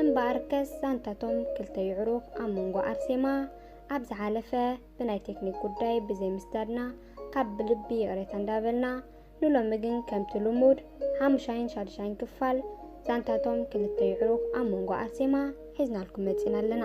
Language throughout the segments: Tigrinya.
እምበኣርከስ ዛንታ'ቶም ክልተ የዕሩኽ ኣብ መንጎ ኣርሴማ ኣብ ዝሓለፈ ብናይ ቴክኒክ ጉዳይ ብዘይ ምስዳድና ካብ ብልቢ ይቕሬታ እንዳበልና ንሎሚ ግን ከምቲ ልሙድ ሓሙሻይን ሻድሻይን ክፋል ዛንታ'ቶም ክልተ የዕሩኽ ኣብ መንጎ ኣርሴማ ሒዝናልኩም መጺእና ኣለና።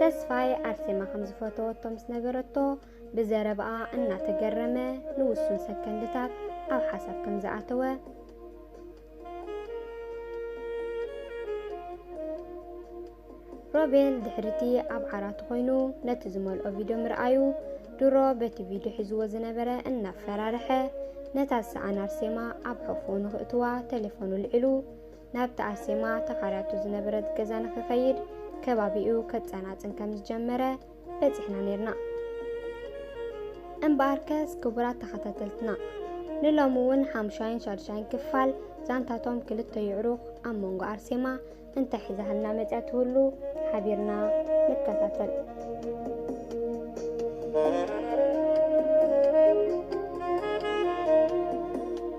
ተስፋይ ኣርሴማ ከም ዝፈተወቶ ምስ ነገረቶ ብዘረባኣ እናተገረመ ንውሱን ሰከንድታት ኣብ ሓሳብ ከም ዝኣተወ ሮቤል ድሕርቲ ኣብ ዓራቱ ኮይኑ ነቲ ዝመልኦ ቪድዮ ምርኣዩ ድሮ በቲ ቪድዮ ሒዝዎ ዝነበረ እናፈራርሐ ነታ ዝሰኣን ኣርሴማ ኣብ ሕቑኡ ንኽእትዋ ቴሌፎኑ ልዒሉ ናብቲ ኣርሴማ ተኻርያቶ ዝነበረት ገዛ ንኽኸይድ ከባቢኡ ከጸናጽን ከም ዝጀመረ በጺሕና ኔርና። እምበኣርከስ ክቡራት ተኸታተልትና ንሎሚ እውን ሓምሻይን ሻድሻይን ክፋል ዛንታቶም ክልተ ይዕሩኽ ኣብ መንጎ ኣርሴማ እንታይ ሒዛህልና መጽያ ትህሉ ሓቢርና ንከታተል።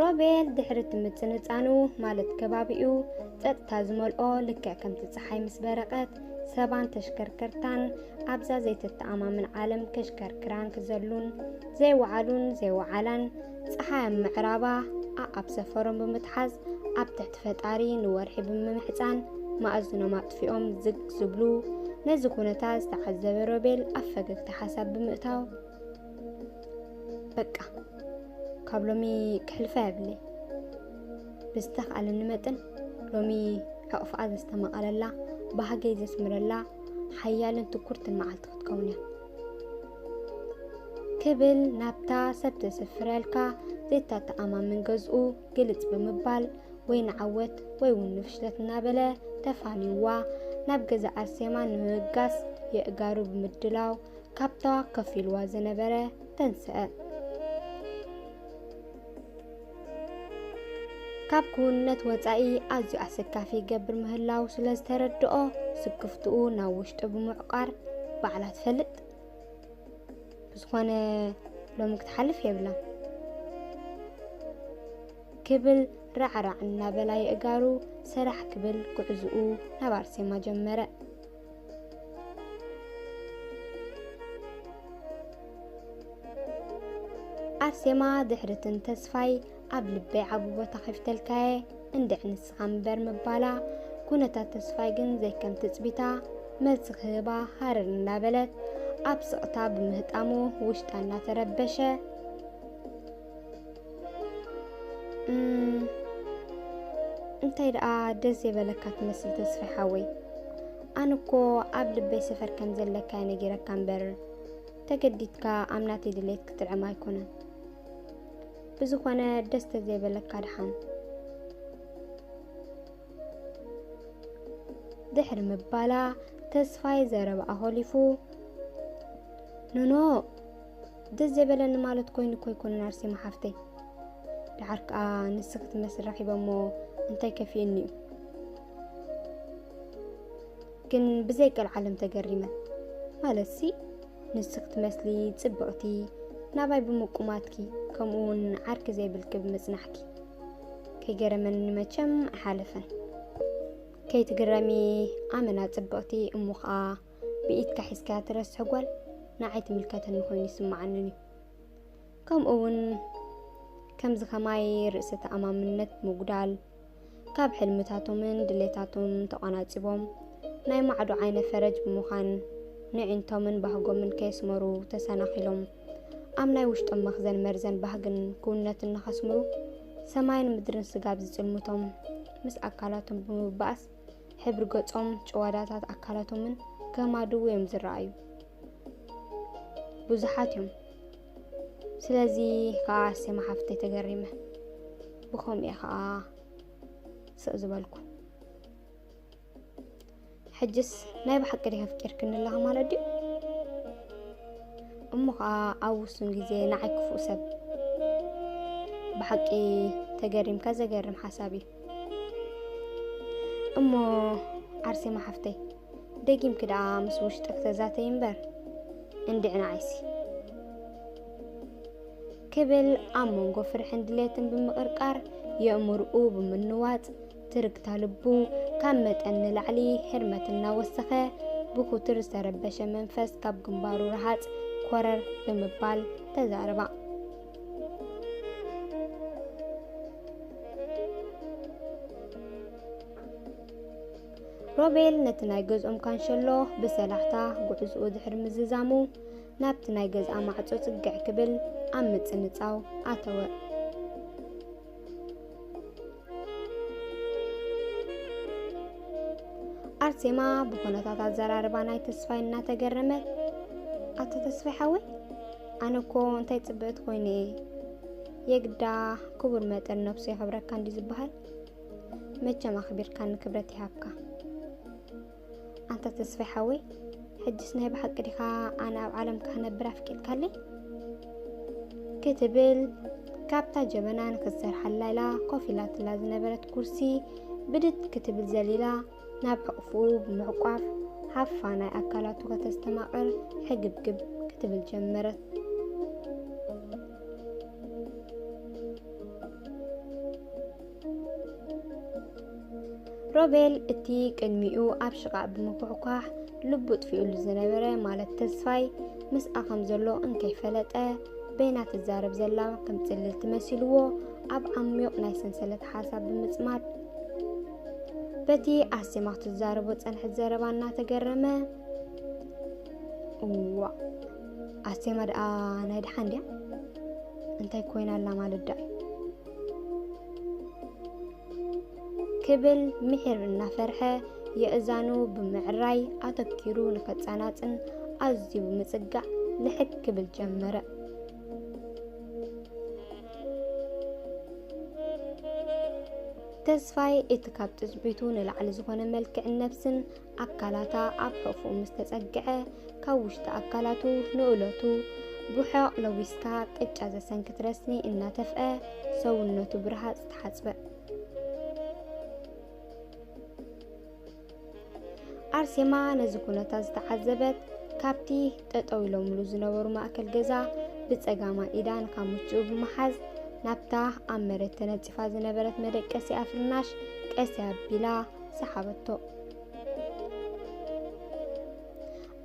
ሮቤል ድሕሪ እቲ ምጽንጻኑ ማለት ከባቢኡ ጸጥታ ዝመልኦ ልክዕ ከምቲ ጸሓይ ምስ በረቐት ሰባን ተሽከርከርታን ኣብዛ ዘይተተኣማምን ዓለም ከሽከርክራን ክዘሉን ዘይወዓሉን ዘይወዓላን ፀሓይ ኣብ ምዕራባ ኣኣብ ሰፈሮም ብምትሓዝ ኣብ ትሕቲ ፈጣሪ ንወርሒ ብምምሕፃን ማእዝኖም ኣጥፊኦም ዝግ ዝብሉ ነዚ ኩነታት ዝተዓዘበ ሮቤል ኣብ ፈገግታ ሓሳብ ብምእታው በቃ ካብ ሎሚ ክሕልፋ የብለይ ብዝተኻእለኒ መጠን ሎሚ ሕቕፍኣ ዘስተማቐረላ ባህገይ ዘስምረላ ሓያልን ትኩርትን መዓልቲ ክትከውን እያ ክብል ናብታ ሰብ ዘስፍረልካ ዘይተተኣማምን ገዝኡ ግልጽ ብምባል ወይ ንዓወት ወይ እውን ንፍሽለት እናበለ ተፋንዩዋ ናብ ገዛ ኣርሴማ ንምብጋስ የእጋሩ ብምድላው ካብታ ከፍ ኢልዋ ዝነበረ ተንስአ። ካብ ክውንነት ወጻኢ ኣዝዩ ኣሰካፊ ይገብር ምህላው ስለ ዝተረድኦ ስክፍትኡ ናብ ውሽጡ ብምዕቋር ባዕላ ትፈልጥ ብዝኾነ ሎሚ ክትሓልፍ የብላ ክብል ራዕራዕ እናበላ የእጋሩ ሰራሕ ክብል ጉዕዝኡ ናብ ኣርሴማ ጀመረ። ኣርሴማ ድሕርትን ተስፋይ ኣብ ልበይ ዓቢ ቦታ ከፊተልካየ እንድዕ ንስኻ ምበር ምባላ ኩነታት ተስፋይ ግን ዘይከም ትጽቢታ መልሲ ክህባ ሃረር እንዳበለት ኣብ ስቕታ ብምህጣሙ ውሽጣ እናተረበሸ እንታይ ደኣ ደስ ዘይበለካ ትመስል ተስፋ ሓወይ ኣነ እኮ ኣብ ልበይ ሰፈር ከም ዘለካ ነጊረካ እምበር ተገዲድካ ኣብ ናተይ ድሌት ክትጥዕም ኣይኮነን ብዝኾነ ደስ ተዘይበለካ ድሓን ድሕሪ ምባላ ተስፋይ ዘረብኣ ሆሊፉ ኖኖ ደስ ዘይበለኒ ማለት ኮይኑ እኮ ኣይኮነን ኣርሴማ ሓፍተይ ድሓር ከዓ ንስ ክትመስል ረኺበሞ እንታይ ከፊኡኒ እዩ ግን ብዘይ ቀልዓለም ተገሪመ ማለት ሲ ንስ ክትመስሊ ፅብቕቲ ናባይ ብምቁማትኪ ከምኡ እውን ዓርኪ ዘይብልኪ ብምፅናሕኪ ከይገረመኒ መቸም ኣይሓለፈን ከይትግረሚ ኣመና ፅብቕቲ እሞ ከዓ ብኢድካ ሒዝካያ ትረስሕ ጓል ንዓይ ትምልከተኒ ኮይኑ ይስምዓንን እዩ ከምኡ እውን ከምዚ ከማይ ርእሰ ተኣማምነት ምጉዳል ካብ ሕልምታቶምን ድሌታቶም ተቋናጺቦም ናይ ማዕዶ ዓይነ ፈረጅ ብምዃን ንዒንቶምን ባህጎምን ከየስመሩ ተሰናኺሎም ኣብ ናይ ውሽጦም መኽዘን መርዘን ባህግን ክውነትን ንኸስምሩ ሰማይን ምድርን ስጋብ ዝጽልምቶም ምስ ኣካላቶም ብምባእስ ሕብሪ ገጾም፣ ጭዋዳታት ኣካላቶምን ከም ኣድው እዮም ዝረኣዩ። ብዙሓት እዮም። ስለዚ ከዓ ኣርሴማ ሓፍተይ ተገሪመ ብኸምኡ እየ ከዓ ስቕ ዝበልኩ። ሕጅስ ናይ ብሓቂ ዲኺ ኣፍቂርክኒ ኣለኻ ማለት ድዩ? እሞ ከዓ ኣብ ውሱን ግዜ ንዓይ ክፉእ ሰብ ብሓቂ ተገሪምካ ዘገርም ሓሳብ እዩ። እሞ ዓርሴማ ሓፍተይ ደጊምኪ ደኣ ምስ ውሽጢ ክተዛተይ እምበር እንድዕ ንዓይሲ ክብል ኣብ መንጎ ፍርሕን ድሌትን ብምቕርቃር የእምርኡ ብምንዋፅ ትርግታ ልቡ ካብ መጠን ንላዕሊ ህርመት እናወሰኸ ብኩትር ዝተረበሸ መንፈስ ካብ ግንባሩ ረሃፅ ኮረር ብምባል ተዛረባ። ሮቤል ነቲ ናይ ገዝኦም ካንሸሎ ብሰላሕታ ጉዕዝኡ ድሕሪ ምዝዛሙ ናብቲ ናይ ገዝኣ ማዕጾ ጽግዕ ክብል ኣብ ምጽንጻው ኣተወ። ኣርሴማ ብኩነታት ኣዘራርባ ናይ ተስፋይ እናተገረመት ኣቶ ተስፋይ ሓወይ ኣነ እኮ እንታይ ፅብእት ኮይኑ እየ የግዳ ክቡር መጠን ነብሱ የኽብረካ እንዲ ዝበሃል መቸም ኣኽቢርካ ንክብረት ይሃብካ ኣንታ ተስፋይ ሓወይ ሕጅስ ናይ ብሓቂ ዲኻ ኣነ ኣብ ዓለም ክነብር ኣፍቂድካለይ ክትብል ካብታ ጀበና ንክትሰርሓላ ኢላ ኮፍ ኢላትላ ዝነበረት ኩርሲ ብድድ ክትብል ዘሊላ ናብ ሕቕፍኡ ብምዕቋፍ ሃፋ ናይ ኣካላቱ ከተስተማቕር ሕግብግብ ክትብል ጀመረት ሮቤል እቲ ቅድሚኡ ኣብ ሽቓእ ብምኩሕኳሕ ልቡ ጥፊኡሉ ዝነበረ ማለት ተስፋይ ምስኣ ከም ዘሎ እንከይፈለጠ በይና ትዛረብ ዘላ ከም ጽልልቲ መሲልዎ ኣብ ዓሚቕ ናይ ሰንሰለት ሓሳብ ብምጽማድ በቲ ኣሴማ ክትዛረቦ ጸንሐት ዘረባ እናተገረመ እዋ ኣሴማ ደኣ ናይ ደሓን ድያ እንታይ ኮይና ኣላ ማለት ደኣ ክብል ምሒር እናፈርሐ የእዛኑ ብምዕራይ ኣተኪሩ ንከጻናጽን ኣዝዩ ብምጽጋዕ ልሕግ ክብል ጀመረ። ተስፋይ እቲ ካብ ትጽቢቱ ንላዕሊ ዝኾነ መልክዕን ነብስን ኣካላታ ኣብ ሕቕፍኡ ምስ ተጸግዐ፣ ካብ ውሽጢ ኣካላቱ ንእለቱ ብሑቕ ለዊስካ ቅጫ ዘሰንክት ረስኒ እናተፍአ ሰውነቱ ብረሃጽ ተሓጽበ። ኣርሴማ ነዚ ኩነታት ዝተዓዘበት ካብቲ ጠጠው ኢሎምሉ ዝነበሩ ማእከል ገዛ ብጸጋማ ኢዳ ንካሙችኡ ብምሓዝ ናብታ ኣብ መሬት ተነጺፋ ዝነበረት መደቀሲኣ ፍርናሽ ቀስ ኣቢላ ሰሓበቶ።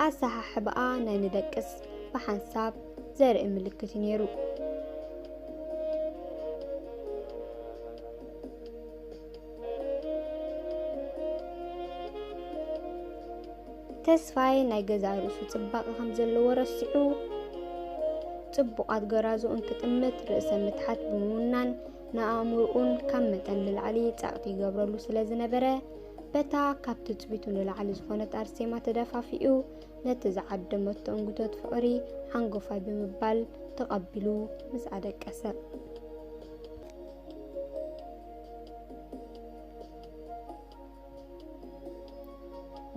ኣሰሓሕባኣ ናይ ንደቅስ ብሓንሳብ ዘርኢ ምልክት እዩ ነይሩ። ተስፋይ ናይ ገዛ ርእሱ ጽባቐ ከም ዘለዎ ረሲዑ ጽቡቓት ገራዙ እንክጥምት ርእሰ ምትሓት ብምውናን ንኣእምርኡን ካብ መጠን ንላዕሊ ጸቕጢ ይገብረሉ ስለ ዝነበረ በታ ካብ ትጽቢቱ ንላዕሊ ዝኾነት ኣርሴማ ተደፋፊኡ ነቲ ዝዓደመቶ እንግቶት ፍቕሪ ሓንጎፋይ ብምባል ተቐቢሉ ምስ ኣደቀሰ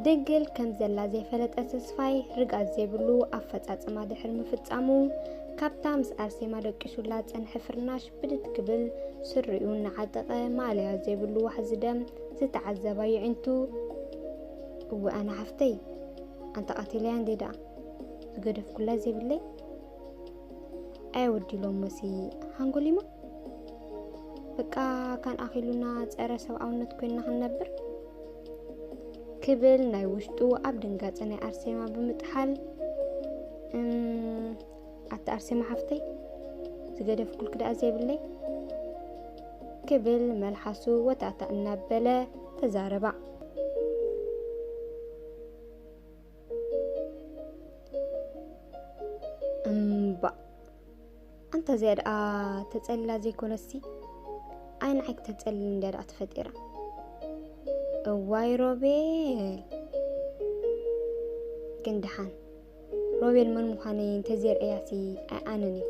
ድንግል ከም ዘላ ዘይፈለጠ ተስፋይ ርግኣት ዘይብሉ ኣፈጻጽማ ድሕሪ ምፍጻሙ ካብታ ምስ ኣርሴማ ደቂሱላ ጸንሐ ፍርናሽ ብድድ ክብል ስሪኡ እናዓጠቐ ማእለያ ዘይብሉ ዋሕዚ ደም ዝተዓዘባ ይዒንቱ እወ ኣነ ሓፍተይ ኣንተ ቀቲለያ እንዴ ደኣ ዝገደፍኩላ ዘይብለይ ኣይ ወዲ ሎሞሲ ሓንጎሊማ በቃ ካን ኣኺሉና ጸረ ሰብኣውነት ኮይና ክንነብር ክብል ናይ ውሽጡ ኣብ ድንጋጸ ናይ ኣርሴማ ብምጥሓል ኣቲ ኣርሴማ ሓፍተይ ዝገደፍኩል ክዳኣ ዘይብለይ ክብል መልሓሱ ወታታ እናበለ ተዛረባ። እምባእ ኣንታ እዚኣ ደኣ ተጸልላ ዘይኮነሲ ኣይንዓይ ክተጸልል እንድያ ደኣ ተፈጢራ እዋይ ሮቤል ግን ደሓን ሮቤል መን ምዃነይ እንተዘይርእያሲ ኣይኣንን እዩ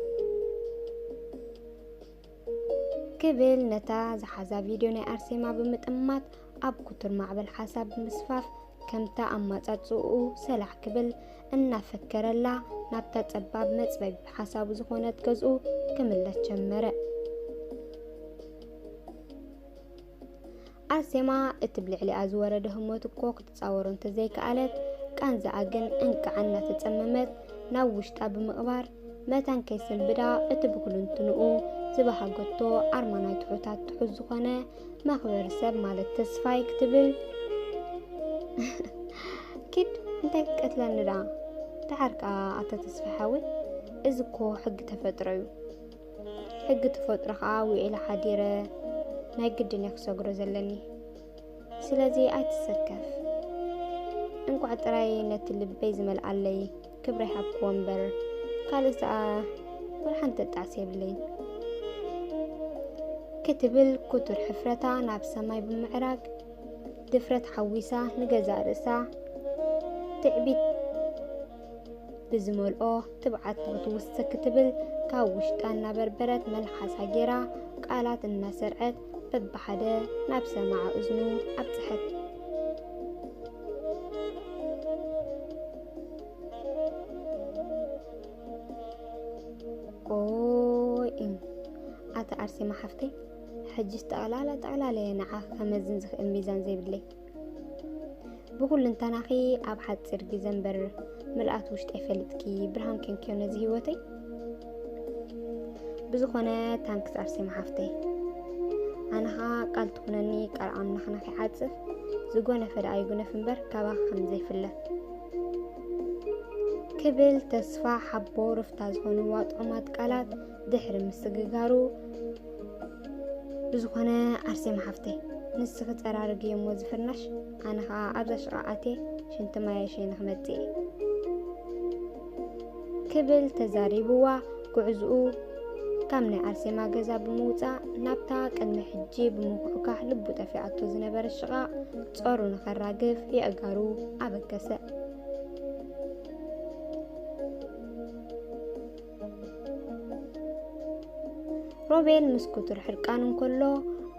ክብል ነታ ዝሓዛ ቪድዮ ናይ ኣርሴማ ብምጥማት ኣብ ኩቱር ማዕበል ሓሳብ ብምስፋፍ ከምታ ኣማጻጽኡ ሰላዕ ክብል እናፈከረላ ናብታ ጸባብ መጽበቢ ሓሳቡ ዝኾነት ገዝኡ ክምለስ ጀመረ። ኣርሴማ እቲ ብልዕሊኣ ዝወረደ ህሞት እኮ ክትጻወሮ እንተዘይከኣለት፣ ቃንዛኣ ግን እንቃዕ እናተጸመመት ናብ ውሽጣ ብምቕባር፣ መታን ከይሰንብዳ እቲ ብኩሉንትንኡ ዝበሃገቶ ኣርማ ናይ ትሑታት ትሑት ዝኾነ መኽበሪ ሰብ ማለት ተስፋይ ክትብል ኪድ እንታይ ክትቀትለኒ ደኣ ደሓር ከኣ ኣቶ ተስፋይ ሓወይ እዚ እኮ ሕጊ ተፈጥሮ እዩ ሕጊ ተፈጥሮ ከዓ ውዒለ ሓዲረ ናይ ግድን እየ ክሰግሮ ዘለኒ ስለዚ ኣይትሰከፍ እንቋዕ ጥራይ ነቲ ልበይ ዝመልኣለይ ክብሪ ሃብክዎ እምበር ካልእ ሰኣ ወልሓንቲ ተጣዕሲ የብለይ ክትብል ኩቱር ሕፍረታ ናብ ሰማይ ብምዕራግ ድፍረት ሓዊሳ ንገዛእ ርእሳ ትዕቢት ብዝመልኦ ትብዓት ክትውስክ ክትብል ካብ ውሽጣ እናበርበረት መልሓሳ ጌራ ቃላት እናሰርዐት በብሓደ ናብ ሰማዒ እዝኑ ኣብጽሐት። ኣቲ ኣርሴማ ሓፍተይ ሕጅስ ጠቕላላ ጠቕላላ እየ ንዓኺ ከመዝን ዝኽእል ሚዛን ዘይብለይ። ብኩልንተናኺ ኣብ ሓፂር ግዘ እምበር ምልኣት ውሽጠይ ፈልጥኪ ብርሃን ኮንኪዮ ነዚ ሂወተይ ብዝኾነ ታንክስ ኣርሴማ ሓፍተይ ኣነኻ ቃል ትኹነኒ ቃል ኣምላኽና ከይዓፅፍ ዝጎነፈ ደኣ ይጉነፍ እምበር ካባኺ ከም ዘይፍለ ክብል ተስፋ ሓቦ ርፍታ ዝኾኑ ዋጥዑማት ቃላት ድሕሪ ምስግጋሩ ብዝኾነ ኣርሴማ ሓፍተይ ንስኺ ፀራርግ እየሞ ዝፍርናሽ ኣነ ከዓ ኣብዛ ሽቓ ኣትየ ሽንቲ ማየ ሸይነ ክመፅእ እየ ክብል ተዛሪብዋ ጉዕዝኡ ካብ ናይ ኣርሴማ ገዛ ብምውፃእ ናብታ ቅድሚ ሕጂ ብምኩሕካሕ ልቡ ጠፊኣቶ ዝነበረ ሽቓቕ ጾሩ ንኸራግፍ የእጋሩ ኣበገሰ ሮቤል ምስ ኩቱር ሕርቃን እንከሎ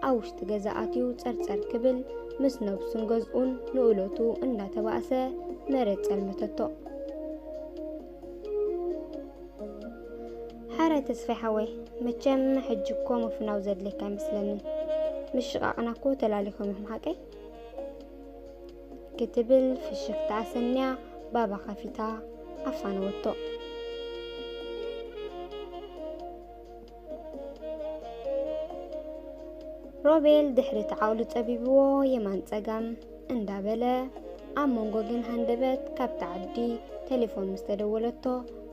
ኣብ ውሽጢ ገዛ ኣትዩ ጸርጸር ክብል ምስ ነብሱን ገዝኡን ንእለቱ እንዳተባእሰ መሬት ጸልመተቶ። ሓረ ተስፋይ ሓወይ መቸም ሕጂ እኮ ምፍናው ዘድልየካ ኣይመስለንን። ምሽቓቕና እኮ ተላሊኾም እዮም ሓቀይ ክትብል ፍሽኽታ ኣሰንያ ባባ ከፊታ ኣፋነወቶ። ሮቤል ድሕሪ እቲ ዓቕሉ ጸቢብዎ የማን ጸጋም እንዳበለ ኣብ መንጎ ግን ሃንደበት ካብቲ ዓዲ ቴሌፎን ምስ ተደወለቶ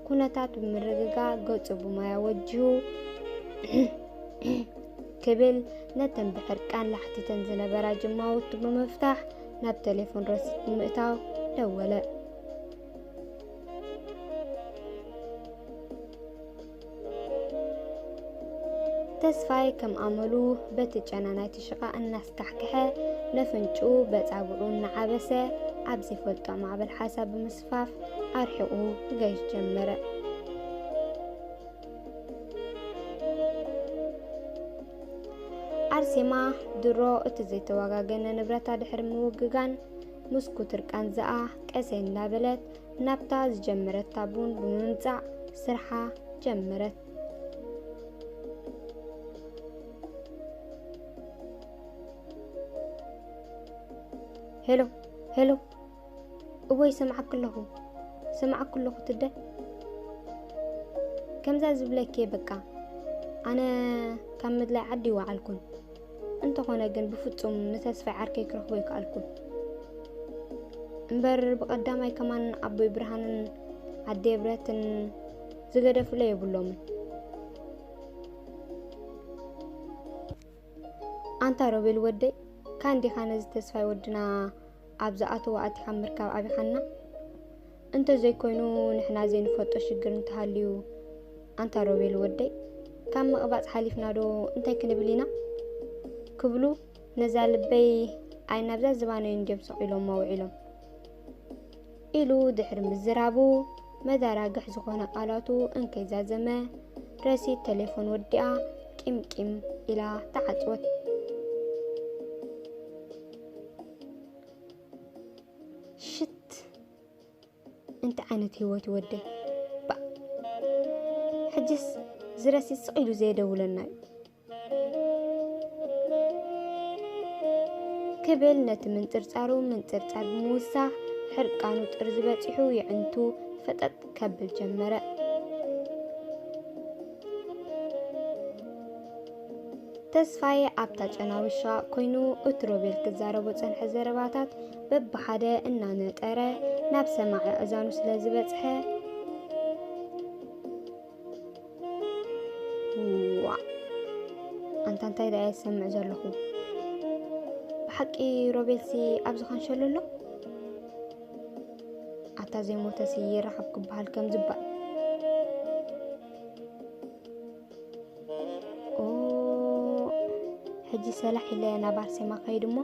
ኩነታት ብምርግጋ ገጹ ብማያ ወጂሁ ክብል ነተን ብሕርቃን ላሕቲተን ዝነበራ ጅማውቱ ብምፍታሕ ናብ ቴሌፎን ረሲት ብምእታው ደወለ። ተስፋይ ከም ኣመሉ በቲ ጨና ናይቲ ሽቓ እናስካሕክሐ ነፍንጩ በጻብዑ እናዓበሰ ኣብ ዘይፈልጦ ማዕበል ሓሳብ ብምስፋፍ ኣርሒቑ ገዥ ጀመረ። ኣርሴማ ድሮ እቲ ዘይተዋጋገነ ንብረታ ድሕሪ ምውግጋን ምስ ኩትር ቃንዛኣ ቀሰ እንዳበለት ናብታ ዝጀመረታ ቡን ብምምፃእ ስርሓ ጀመረት። ሄሎ ሄሎ እወ ይሰምዓኪ ኣለኹ ይሰምዓኪ ኣለኹ ትደ ከምዛ ዝብለኪ በቃ ኣነ ካብ ምድላይ ዓዲ ይወዓልኩን እንተኾነ ግን ብፍጹም ንተስፋይ ዓርከይ ክረኽቦ ይከኣልኩን እምበር ብቐዳማይ ከማን ኣቦይ ብርሃንን ኣደ ብረትን ዝገደፍለ የብሎምን ኣንታ ሮቤል ወደይ ካንዲኻ ነዚ ተስፋይ ወድና ኣብ ዝኣተዎ ኣቲኻ ምርካብ ኣብይኻና እንተ ዘይኮይኑ ንሕና ዘይንፈልጦ ሽግር እንተሃልዩ ኣንታ ሮቤል ወደይ ካብ ምቕባጽ ሓሊፍና ዶ እንታይ ክንብል ኢና ክብሉ ነዛ ልበይ ኣይ ናብዛ ዝባነይን ድዮም ሰቒሎሞ ውዒሎም ኢሉ ድሕሪ ምዝራቡ፣ መዛራግሕ ዝኾነ ቃላቱ እንከይዛዘመ፣ ረሲት ተሌፎን ወዲኣ ቂም ቂም ኢላ ተዓጽወት። ሽት! እንታይ ዓይነት ህይወት እዩ ወደይ? ባእ! ሕጅስ እዚ ረሲት ስቕ ኢሉ ዘየደውለና እዩ። ክብል ነቲ ምንጽርጻሩ ምንጽርጻር ብምውሳኽ ሕርቃኑ ጥርዚ በጺሑ የዕንቱ ፈጠጥ ከብል ጀመረ። ተስፋዬ ኣብታ ጨና ውሻ ኮይኑ እቲ ሮቤል ክዛረቦ ጸንሐ ዘረባታት በብሓደ እናነጠረ ናብ ሰማዒ ኣእዛኑ ስለ ዝበጽሐ ዋእ ኣንታ እንታይ ደኣ የሰምዕ ዘለኹ ብሓቂ ሮቤልሲ ኣብዚ ካንሸሎ ኣሎ ኣታ ዘይሞተሲ ይረኸብ ክበሃል ከም ዝባል ኦ ሕጂ ሰላሕ ኢለ ናብ ኣርሴማ ከይድ እሞ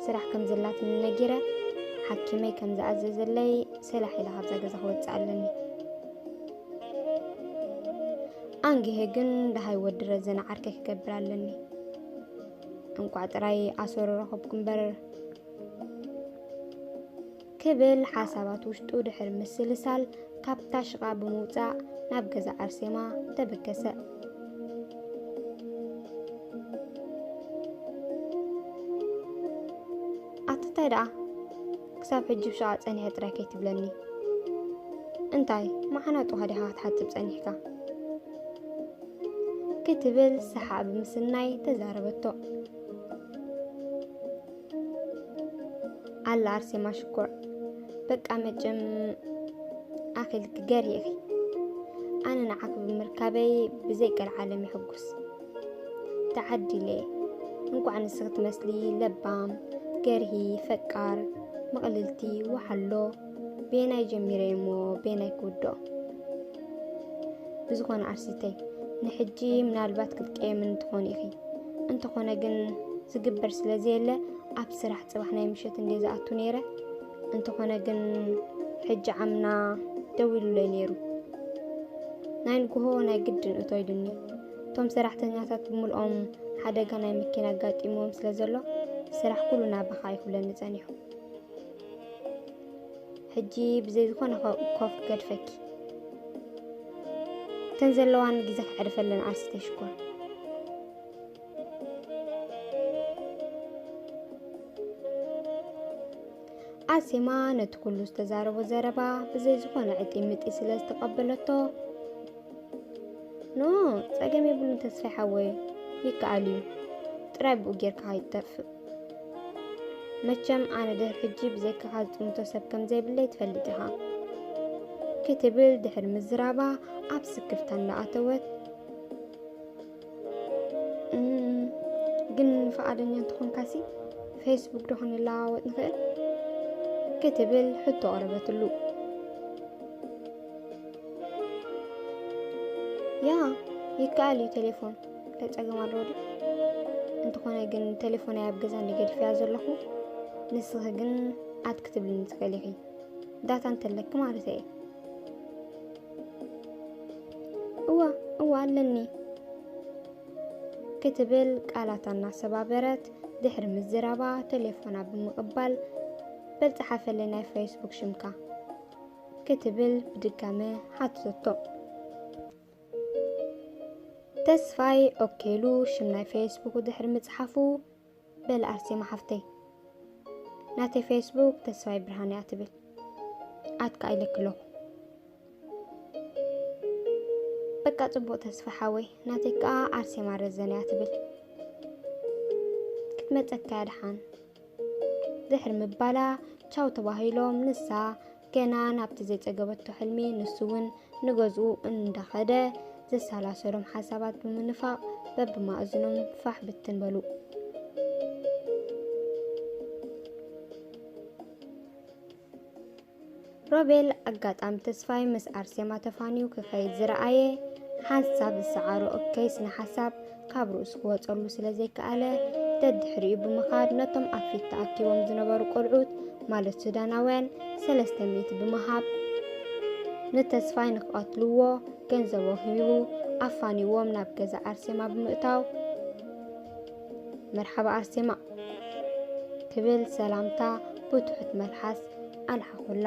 ስራሕ ከም ዘላትኒ ነጊረ ሓኪመይ ከም ዝኣዘዘለይ ሰላሕ ኢለ ካብዛ ገዛ ክወፅእ ኣለኒ ኣንጊሀ ግን ደሃይ ወዲ ረዘነ ዓርከይ ክገብር ኣለኒ እንቋዕ ጥራይ ኣሰሩ ረኸብኩ እምበር ክብል ሓሳባት ውሽጡ ድሕሪ ምስልሳል ካብታ ሽቓ ብምውጻእ ናብ ገዛ ኣርሴማ ተበገሰ። ኣትታይ ደኣ ክሳብ ሕጂ ብሸቓ ጸኒሐ ጥራይ ከይትብለኒ እንታይ መዓናጡኻ ዲኻ ክትሓጽብ ጸኒሕካ ክትብል ሰሓ ብምስናይ ተዛረበቶ ኣላ ኣርሴማ ሽኮር በቃ መጭም ኣኺልኪ ገር ኢኺ ኣነ ንዓኺ ብምርካበይ ብዘይ ቀልዓለም ይሕጉስ ተዓዲለ እንኳዕ ንስኺ ትመስሊ ለባም ገርሂ ፈቃር ምቕልልቲ ወሓሎ ቤናይ ጀሚረ እሞ ቤናይ ክውድኦ ብዝኾነ ዓርሲተይ ንሕጂ ምናልባት ክትቀየምን ትኾኑ ኢኺ እንተኾነ ግን ዝግበር ስለ ዘየለ ኣብ ስራሕ ፅባሕ ናይ ምሸት እንደ ዝኣቱ ነይረ እንተኾነ ግን ሕጂ ዓምና ደው ኢሉለይ ነይሩ ናይ ንግሆ ናይ ግድን እቶ ኢሉኒ እቶም ሰራሕተኛታት ብምልኦም ሓደጋ ናይ መኪና ኣጋጢምዎም ስለ ዘሎ ስራሕ ኩሉ ናባኻ ይኹብለኒ ጸኒሑ ሕጂ ብዘይ ዝኾነ ኮፍ ገድፈኪ እተን ዘለዋን ግዜ ክዕርፈለን ዓርሲ ተሽኮር ኣሴማ ነቲ ኩሉ ዝተዛረቦ ዘረባ ብዘይ ዝኾነ ዕጢምጢ ስለ ዝተቐበለቶ ኖ ጸገም የብሉን ተስፋይ ሓወይ ይከኣል እዩ ጥራይ ብኡ ጌርካ ይጠፍእ መቸም ኣነ ድሕሪ ሕጂ ብዘይካኻ ዝጥምቶ ሰብ ከም ዘይብለይ ትፈልጥ ኢኻ ክትብል ድሕሪ ምዝራባ ኣብ ስክፍታ እንዳኣተወት እም፣ ግን ፈቓደኛ እንተኾንካሲ ፌስቡክ ዶ ክንለዋወጥ ንኽእል ክትብል ሕቶ ቐረበትሉ ያ ይከኣል እዩ ቴሌፎን እንታይ ፀገም ኣለዎ ድዩ? እንተኾነ ግን ቴሌፎነይ ኣብ ገዛ እንድየ ገዲፈያ ዘለኹ ንስኺ ግን ኣት ክትብልኒ ትኽእሊ ኢኺ ዳታ እንተለኪ ማለት እየ እዋ እዋ ኣለኒ ክትብል ቃላታ እናሰባበረት ድሕሪ ምዝራባ ቴሌፎና ብምቕባል በል ፀሓፈለይ ናይ ፌስቡክ ሽምካ ክትብል ብድጋመ ሓትተቶ ተስፋይ ኦኬ ኢሉ ሽም ናይ ፌስቡኩ ድሕሪ ምጽሓፉ፣ በል ኣርሴማ ሓፍተይ ናተይ ፌስቡክ ተስፋይ ብርሃነ እያ ትብል ኣትካ ኢለኪ ኣለኹ። በቃ ጽቡቕ ተስፋ ሓወይ ናተይ ከኣ ኣርሴማ ረዘነ እያ ትብል ክትመጸካ እያ ደሓን ድሕሪ ምባላ ቻው ተባሂሎም ንሳ ገና ናብቲ ዘይጸገበቶ ሕልሚ ንሱ'ውን ንገዝኡ እንዳኸደ ዘሰላሰሎም ሓሳባት ብምንፋቕ በብማእዝኖም ፋሕ ብትን በሉ። ሮቤል ኣጋጣሚ ተስፋይ ምስ ኣርሴማ ተፋንዩ ክኸይድ ዝረኣየ ሓንሳብ ዝሰዓሮ እከይ ስነ ሓሳብ ካብ ርእሱ ክወጸሉ ስለ ዘይከኣለ ደድሕሪኡ ብምኻድ ነቶም ኣብ ፊት ተኣኪቦም ዝነበሩ ቆልዑት ማለት ሱዳናውያን ሰለስተ ሚእቲ ብምሃብ ንተስፋይ ንክቐትልዎ ገንዘቦ ሂቡ ኣፋኒዎም ናብ ገዛ ኣርሴማ ብምእታው መርሓባ ኣርሴማ ክብል ሰላምታ ብትሑት መልሓስ ኣልሓኹላ።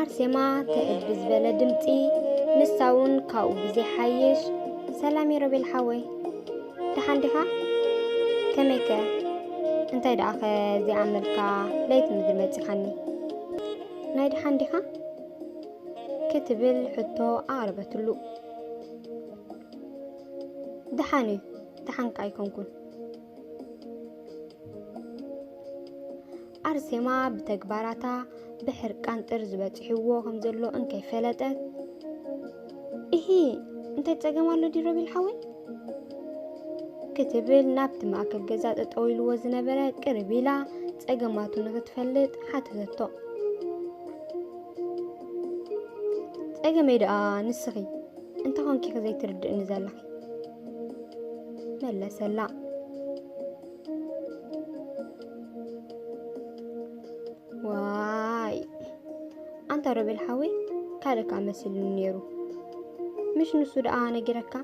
ኣርሴማ ተእል ብዝበለ ድምፂ ንሳውን ካብኡ ብዘ ሓይሽ ሰላም የሮቤል ሓወይ ደሓን ዲኻ ከመይከ እንታይ ደኣኸ ዘይኣመልካ ለይቲ ምድሪ መፂኻኒ ናይ ደሓን ዲኻ ክትብል ሕቶ ኣቕረበትሉ ደሓን እዩ ደሓንካ ኣይኮንኩን ኣርሴማ ብተግባራታ ብሕርቃን ጥርዚ በጺሕዎ ከም ዘሎ እንከይፈለጠት እሂ እንታይ ጸገም ኣሎ ድዩ ሮቤል ሓወይ ክትብል ናብቲ ማእከል ገዛ ጠጠው ኢልዎ ዝነበረ ቅርብ ኢላ ጸገማቱ ንክትፈልጥ ሓተተቶ ጸገመይ ደኣ ንስኺ እንታይ ኮንኪ ዘይትርድእኒ ዘለኺ መለሰላ ዋይ ኣንታ ሮቤል ሓወይ ካልእካ መስልኒ ነይሩ ምሽ ንሱ ደኣ ነጊረካ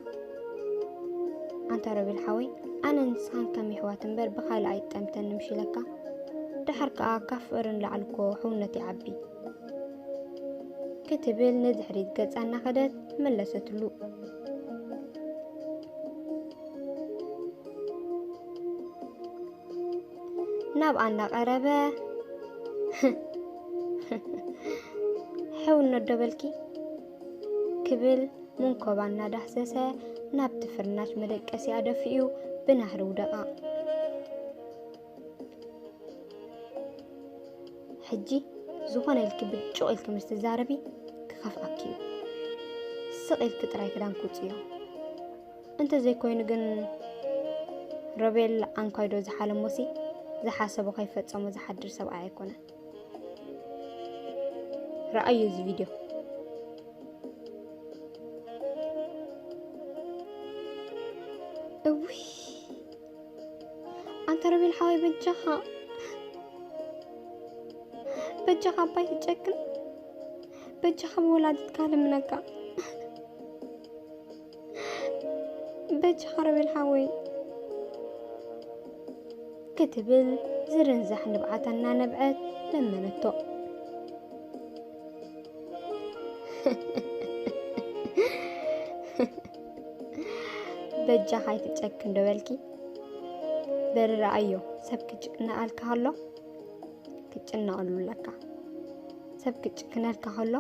ኣንታ ሮቤል ሓወይ ኣነ ንስኻን ከም ይሕዋት እምበር ብካልእ ኣይጠምተን ንምሽ ኢለካ ድሓር ከዓ ካብ ፍቕርን ላዕልኮ ሕውነት ይዓቢ ክትብል ንድሕሪት ገጻ እናኸደት መለሰትሉ ናብ ኣና ቀረበ ሕው እነዶበልኪ ክብል መንኮባ እናዳህሰሰ ናብቲ ፍርናሽ መደቀሲ ኣደፊኡ ብናህሪ ውደቓ። ሕጂ ዝኾነ ኢልኪ ብጭቕ ኢልኪ ምስ ትዛረቢ ክኸፍኣኪ እዩ ስቕ ኢልኪ ጥራይ ክዳን ክውፅዮ እንተዘይኮይኑ ግን ሮቤል ኣንኳይዶ ዝሓለሞሲ ዝሓሰቦ ከይፈፀሞ ዝሓድር ሰብኣይ ኣይኮነን ረኣዩ እዚ ቪድዮ እውይ ኣንተ ሮቤል ሓወይ በጃኻ በጃኻ ኣባይ ትጨክን በጃኻ ብወላዲትካ ልምነካ በጃኻ ሮቤል ሓወይ ክትብል ዝርንዛሕ ንብዓታ እናነብዐት ለመነቶ በጃኻ ኣይትጨክን ዶ በልኪ በሪ ረኣዮ ሰብ ክጭነኣልካ ከሎ ክጭነቐሉ ኣለካ ሰብ ክጭክነልካ ከሎ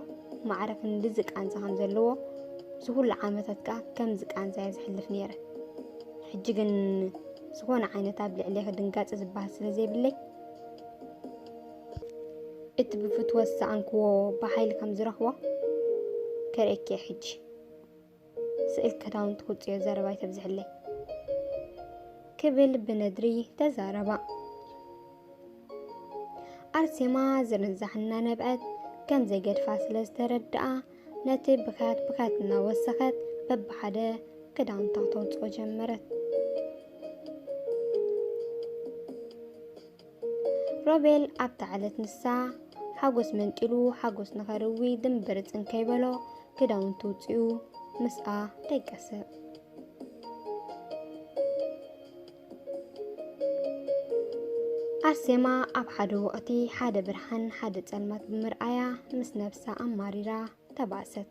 ማዕረ ክንድዚ ቃንዛ ከም ዘለዎ እዚ ኩሉ ዓመታት ከዓ ከምዚ ቃንዛ እየ ዝሕልፍ ነይረ ሕጂ ግን ዝኾነ ዓይነት ኣብ ልዕሌ ክድንጋፂ ዝበሃል ስለ ዘይብለይ እቲ ብፍትወት ዝሰኣንክዎ ብሓይሊ ከም ዝረኽቦ ከርእየኪ እየ ሕጂ ስእል ክዳውንቲ ክውፅዮ ዘረባ ኣይተብዝሕለይ ክብል ብነድሪ ተዛረባ። ኣርሴማ ዝርንዛሕ እናነብዐት ከም ዘይገድፋ ስለ ዝተረድኣ ነቲ ብካት ብካት እናወሰኸት በብሓደ ክዳውንታ ተውፅኦ ጀመረት። ሮቤል ኣብታ ዕለት ንሳ ሓጎስ መንጢሉ ሓጎስ ንኸርዊ ድምብር ጽንከይ በሎ ክዳውንቱ ውጽኡ ምስኣ ደቀሰ። ኣርሴማ ኣብ ሓደ ወቕቲ ሓደ ብርሃን ሓደ ጸልማት ብምርኣያ ምስ ነብሳ ኣማሪራ ተባእሰት።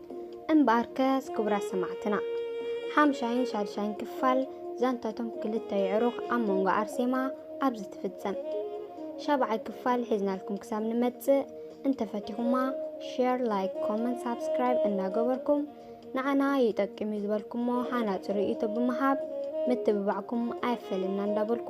እምበኣርከስ ክቡራት ሰማዕትና ሓምሻይን ሻድሻይን ክፋል ዛንታቶም ክልተ የዕሩኽ ኣብ መንጎ ኣርሴማ ኣብዚ ትፍጸም ሻብዓይ ክፋል ሒዝናልኩም ክሳብ ንመጽእ እንተፈቲኹማ ሼር ላይክ ኮመንት ሳብስክራይብ እናገበርኩም ንዓና ይጠቅም እዩ ዝበልኩሞ ሃናፂ ርእይቶ ብምሃብ ምትብባዕኩም ኣይፈለና እንዳበልኩ